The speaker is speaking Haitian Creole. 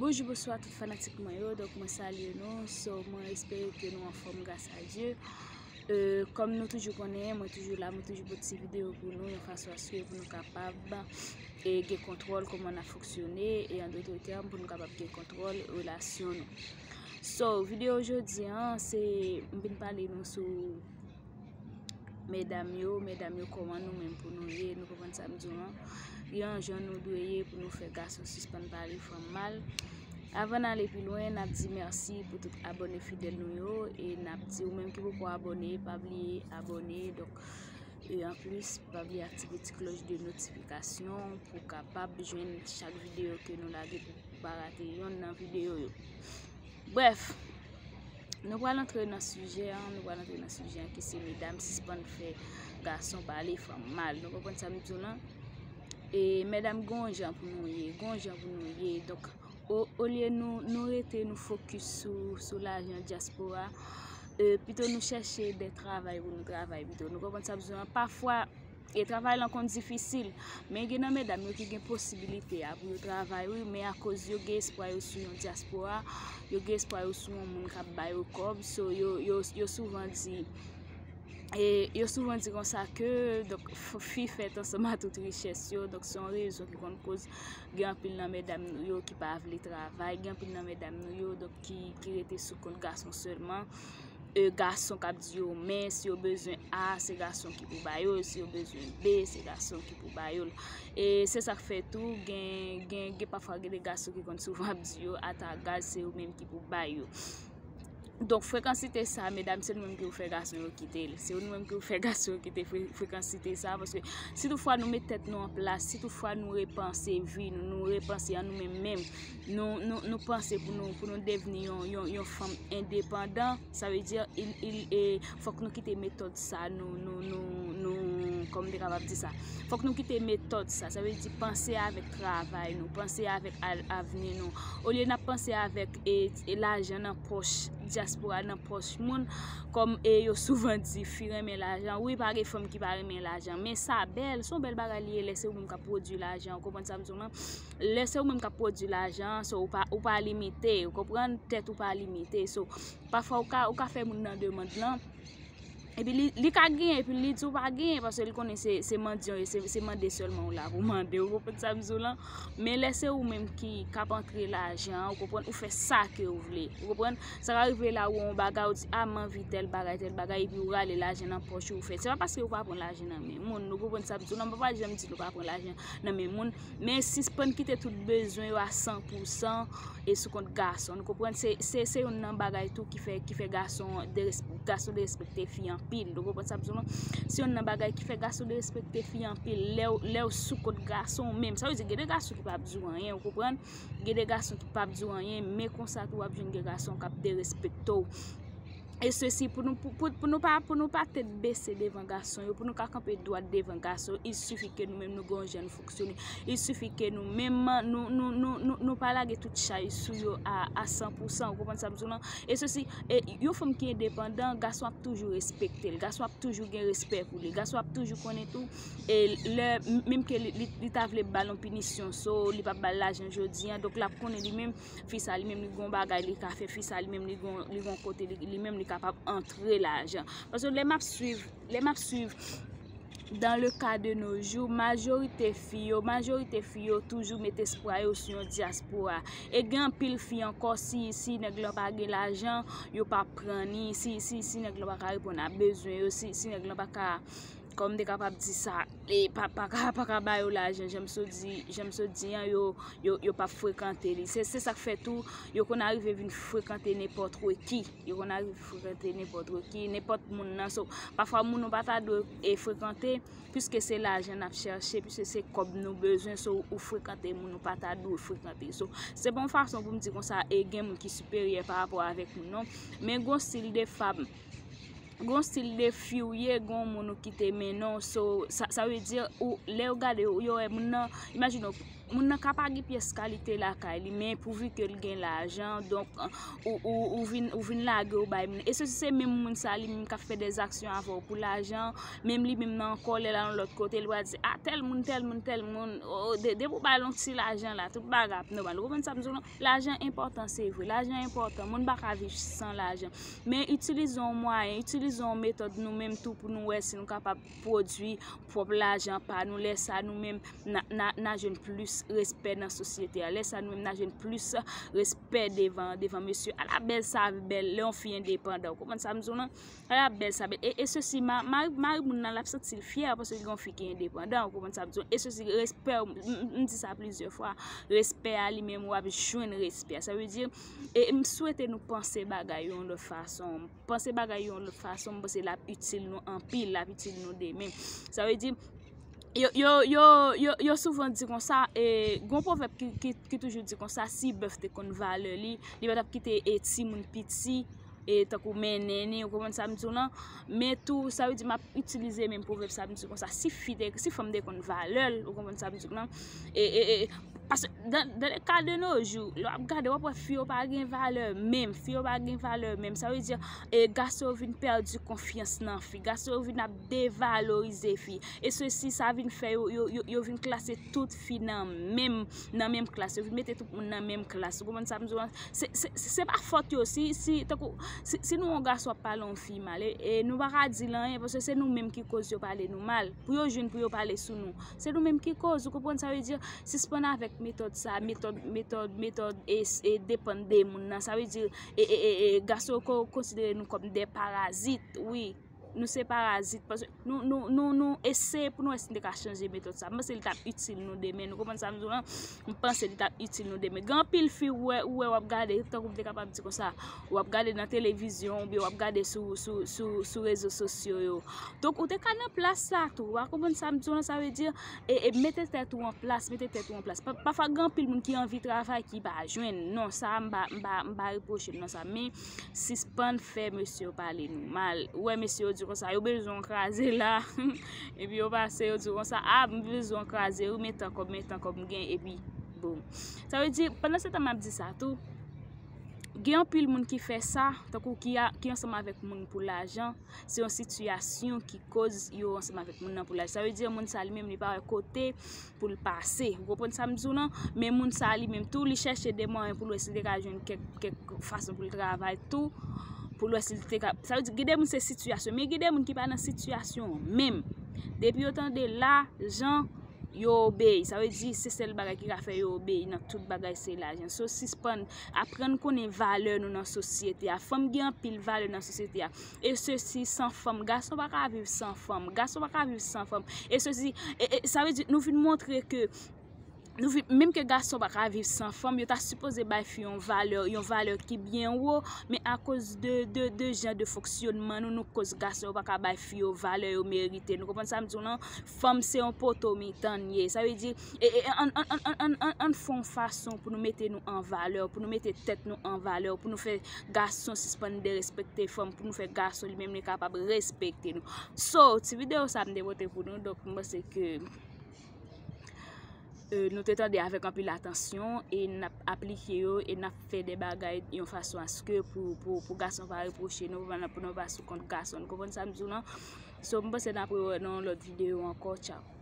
Bonjou bonswa tout fanatik mwen yo donk mwen salye nou so mwen espere ke nou anfom gras a Dye kom nou toujou konnen mwen toujou la mwen toujou pote ti video pou nou yon fason aske pou nou kapab e gen kontrol koman na foksyone e an dotre tèm pou nou kapab gen kontrol relasyon nou so video jodi an se m vin pale nou sou medam yo, medam yo kòman nou menm pou nou ye, nou konprann sa m di w lan, gen yon jan nou dwe ye pou nou fè gason sispann pale fanm mal. Avan n ale pi lwen, n ap di mèsi pou tout abòne fidèl nou yo, e n ap di ou menm ki poko abòne, pa bliye abòne, donk, e an plis, pa bliye aktive ti klòch de notifikasyon pou w kapab jwenn chak videyo ke nou lage pou w pa rate yonn nan videyo yo. Brèf! Nou pral antre nan sijè an, nou pral antre nan sijè an ki se medam sispann fè gason pale fanm mal. Nou konprann sa m di w lan? E medam gon jan pou nou ye, gon jan pou nou ye. Donk, olye nou rete nou fokus sou lajan dyaspora, pito nou chèche de travay pou nou travay pito. Nou konprann sa m di w lan? Pafwa... E travay lan konn difisil, men gen nan medam yo ki gen posibilite a pou yo travay wi, men akoz yo gen espwa yo sou yon dyaspora, yo gen espwa yo sou yon moun k ap ba yo kòb, so yo souvan di, e yo souvan di konsa ke, donk fi fèt ansanm a tout richès yo, donk se yon rezon ki konn koz gen anpil nan medam nou yo ki pa vle travay, gen anpil nan medam nou yo donk ki rete sou kont gason sèlman. e gason kap di yo men si yo bezwen a se gason ki pou ba yo l si yo bezwen b se gason ki pou ba yo l e se sak fè tou gen gen gen pa fwa gen de gason ki konn souvan ap di yo ata gaz se yo menm ki pou ba yo donk frekansite sa medam se nou menm ki pou fè gason yo kite l se nou menm ki pou fè gason yo kite frekansite sa paske si tou fwa nou met tèt nou an plas si tou fwa nou repanse vi nou nou repanse an nou menm menm nou panse pou nou devni yon fanm endepandan, sa vle di fòk nou kite metòd sa, fòk nou kite metòd sa, sa vle di panse avèk travay nou, panse avèk avni nou. Olye n ap panse avèk lajan nan pòch dyaspora, nan pòch moun, kòm yo souvan di, fi renmen lajan, wi pa gen fanm ki pa renmen lajan, men sa bèl, son bèl bagay li ye lè se ou menm k ap pwodui lajan, ou konprann sa m di w la? lè se ou menm kap pwodwi lajan an, so ou pa limite, ou konprann, tèt ou pa limite, so pafwa ou ka fè moun nan demand lan, epi li ka gen, epi li di ou pa gen, paske li konnen se mandyan ou ye, se mande sèlman ou la pou mande, ou konprann sa m di w lan, men lè se ou menm ki kap antre lajan an, ou konprann, ou fè sa ke ou vle, ou konprann, sa ka rive la ou wè yon bagay, ou di a m anvi tèl bagay, tèl bagay, epi ou rale lajan nan pòch ou, ou fè, se pa paske ou pa pran lajan nan men moun, ou konprann sa m di w lan, m pa janm di nou pa pran lajan nan men moun. Men sispann kite tout bezwen yo a san pou san e sou kont gason. Nou konprann se youn nan bagay tou ki fè gason derespekte fi anpil. Nou konprann sa m di w lan? Se youn nan bagay ki fè gason derespekte fi anpil. Lè w sou kont gason w menm. Sa vle di gen de gason ki pa ap di w anyen, ou konprann? Gen de gason ki pa ap di w anyen, men konsa tou w ap jwenn de gason k ap derespekte w. e sesi pou nou pou nou pa pou nou pa tèt bese devan gason yo pou nou ka kanpe dwat devan gason il sifi ke nou menm nou gon jan nou fonksyone il sifi ke nou menm nou nou nou nou pa lage tout chay sou yo a san pou san ou konprann sa m di w lan e sesi e yon fanm ki endepandan gason ap toujou respekte l gason ap toujou gen respè pou li gason ap toujou konnen tou e lè menm ke li ta vle ba l yon pinisyon so li pa ba l lajan jodi an donk l ap konnen li menm fi sa li menm li gon bagay li ka fè, fi sa li menm li gon kote li menm li kapab antre lajan. Paske lè map swiv, lè map swiv dan le ka de no jou, majorite fi yo, majorite fi yo toujou met espwa yo sou yon diaspora. E gen anpil fi ankò si, si nèg lan pa gen lajan, yo pa pran ni, si, si, si nèg lan pa ka reponn a bezwen yo, si, si nèg lan pa ka. Kòm m te kapab di sa, e pa ka ba yo lajan, jan m sot di, jan m sot di an, yo, yo, yo pap frekante li. Se, se sa k fè tou, yo konn arive vin frekante nenpòt wè ki. Yo konn arive frekante nenpòt wè ki, nenpòt moun nan. So, pafwa moun ou pa ta dwe e frekante, piske se lajan n ap chèche, piske se kòb nou bezwen, so ou frekante moun ou pa ta dwe frekante. So, se pa yon fason pou m di konsa, e gen moun ki siperyè pa rapò avèk moun, non. Men gon stil de fab. Gon stil de fi ou ye gon moun ou kite mennen w so sa vle di ou lè yo gade w yo wè moun nan imajine w moun nan ka pa gen pyès kalite lakay li men pou vi ke l gen lajan donk ou vin ou vin lage w bay moun nan e se si se menm moun sa li menm k ap fè dè zaksyon avè w pou lajan menm li menm nan kò l lè l al yon lòt kote l pral di a tèl moun tèl moun tèl moun depi w bay l yon ti lajan la tout bagay ap nòmal ou konprann sa m di w la. Lajan enpòtan se vre, lajan enpòtan, moun pa ka viv san lajan. Men itilize yon mwayen, itilize yon metòd nou menm tou pou nou wè si nou kapab pwodui pwòp lajan pa nou. Lè sa nou menm nan jwenn plis respè nan sosyete a. Lè sa nou menm nan jwenn plis respè devan mesye. Ala bèl sa bèl lè yon fi endepandan. Ou konprann sa m di w lan? Ala bèl sa bèl e sesi ma mari moun nan l ap santi l fyè paske gen yon fi ki endepandan ou konprann sa m di w e sesi respè w m di sa plizyè fwa respè a li menm w ap jwenn respè a sa vle di e m swete nou panse bagay yo yon lòt fason panse bagay yo yon lòt fason m panse l ap itil nou anpil l ap itil nou demen sa vle di yo yo yo yo yo souvan di kon sa e gon pwovèp ki toujou di kon sa si bèf te konn valè li li pa t ap kite e timoun piti e tankou mennen ni ou konprann sa m di w lan men tou sa vle di m ap itilize menm pwovèb sa m di w konsa si fi te si fanm te konn valè l ou konprann sa m di w lan e e e paske dan le ka de no jou lè w ap gade w ap wè fi yo pa gen valè menm fi yo pa gen valè menm sa vle di e gason yo vin pèdi konfyans nan fi gason yo vin ap devalorize fi e se si sa vin fè yo yo yo yo vin klase tout fi nan menm nan menm klas yo vin mete tout moun nan menm klas ou konprann sa m di w lan. Se pa fòt yo, si nou yon gason ap pale yon fi mal, e nou pa ka di l anyen, paske se nou menm ki koz yo pale nou mal, pou yo jwenn pou yo pale sou nou, se nou menm ki koz, ou konprann sa vle di, sispann avèk metòd sa, metòd, metòd, metòd, e depann de moun nan, sa vle di, e, e, e, e, gason yo konsidere nou kòm de parazit, wi. Nou se parazit paske nou eseye pou nou wè si nou te ka chanje metòd sa. M panse li t ap itil nou demen. Nou konprann sa m di w lan? M panse li t ap itil nou demen. Gen anpil fi ou wè ou ap gade, tankou m te kapab di konsa, ou ap gade nan televizyon oubyen ou ap gade sou rezo sosyo yo. Donk ou te ka nan plas sa tou. Ou a konprann sa m di w lan? Sa vle di, mete tèt ou an plas, mete tèt ou an plas. Pafwa gen anpil moun ki anvi travay ki pa jwenn. Non, sa a m pa repwoche l nan sa. Men. Sispann fè mesye yo pale nou mal Ou wè mesye yo di konsa yo bezwen w kraze la Epi yo pase yo di konsa A m bezwen w kraze wi men tan kòb men tan kòb m gen epi Boom Sa vle di pandan se tan m ap di sa tou Gen anpil moun ki fè sa Tankou ki a ki ansanm avèk moun pou lajan Se yon sitiyasyon ki koz yo ansanm avèk moun nan pou lajan Sa vle di moun sa li menm li pa wè kote pou l pase ou konprann sa m di w lan men moun sa li menm tou li chèche de mwayen pou l wè si l te ka jwenn kèk fason pou l travay tou pou l wè si l te ka sa vle di gen de moun se sitiyasyon men gen de moun ki pa nan sitiyasyon menm depi yo tande lajan yo obeyi sa vle di se sèl bagay ki ka fè yo obeyi nan tout bagay se lajan sou sispann aprann konnen valè nou nan sosyete a fanm gen anpil valè nan sosyete a. e sesi san fanm gason pa ka viv san fanm gason pa ka viv san fanm e sesi e sa vle di nou vin montre ke nou vin menm ke gason pa ka viv san fanm yo ta sipoze bay fi yon valè yon valè ki byen wo men akoz de de de jan de fonksyonman nou nou koz gason yo pa ka bay fi yo valè yo merite nou konprann sa m di w lan fanm se yon poto mitan l ye sa vle di Ann fè yon fason pou nou mete nou an valè, pou nou mete tèt nou an valè, pou nou fè gason sispann derespekte fanm, pou nou fè gason li menm li kapab respekte nou. So, ti videyo sa m te pote pou nou, donk m panse ke nou te tande avèk anpil atansyon, e n ap aplike yo, e n ap fè de bagay yon fason aske pou gason pa repwoche nou, pou nou pa sou kont gason. Nou konprann sa m di w lan? So, m panse n ap re wè nan yon lòt videyo ankò. Tchaw!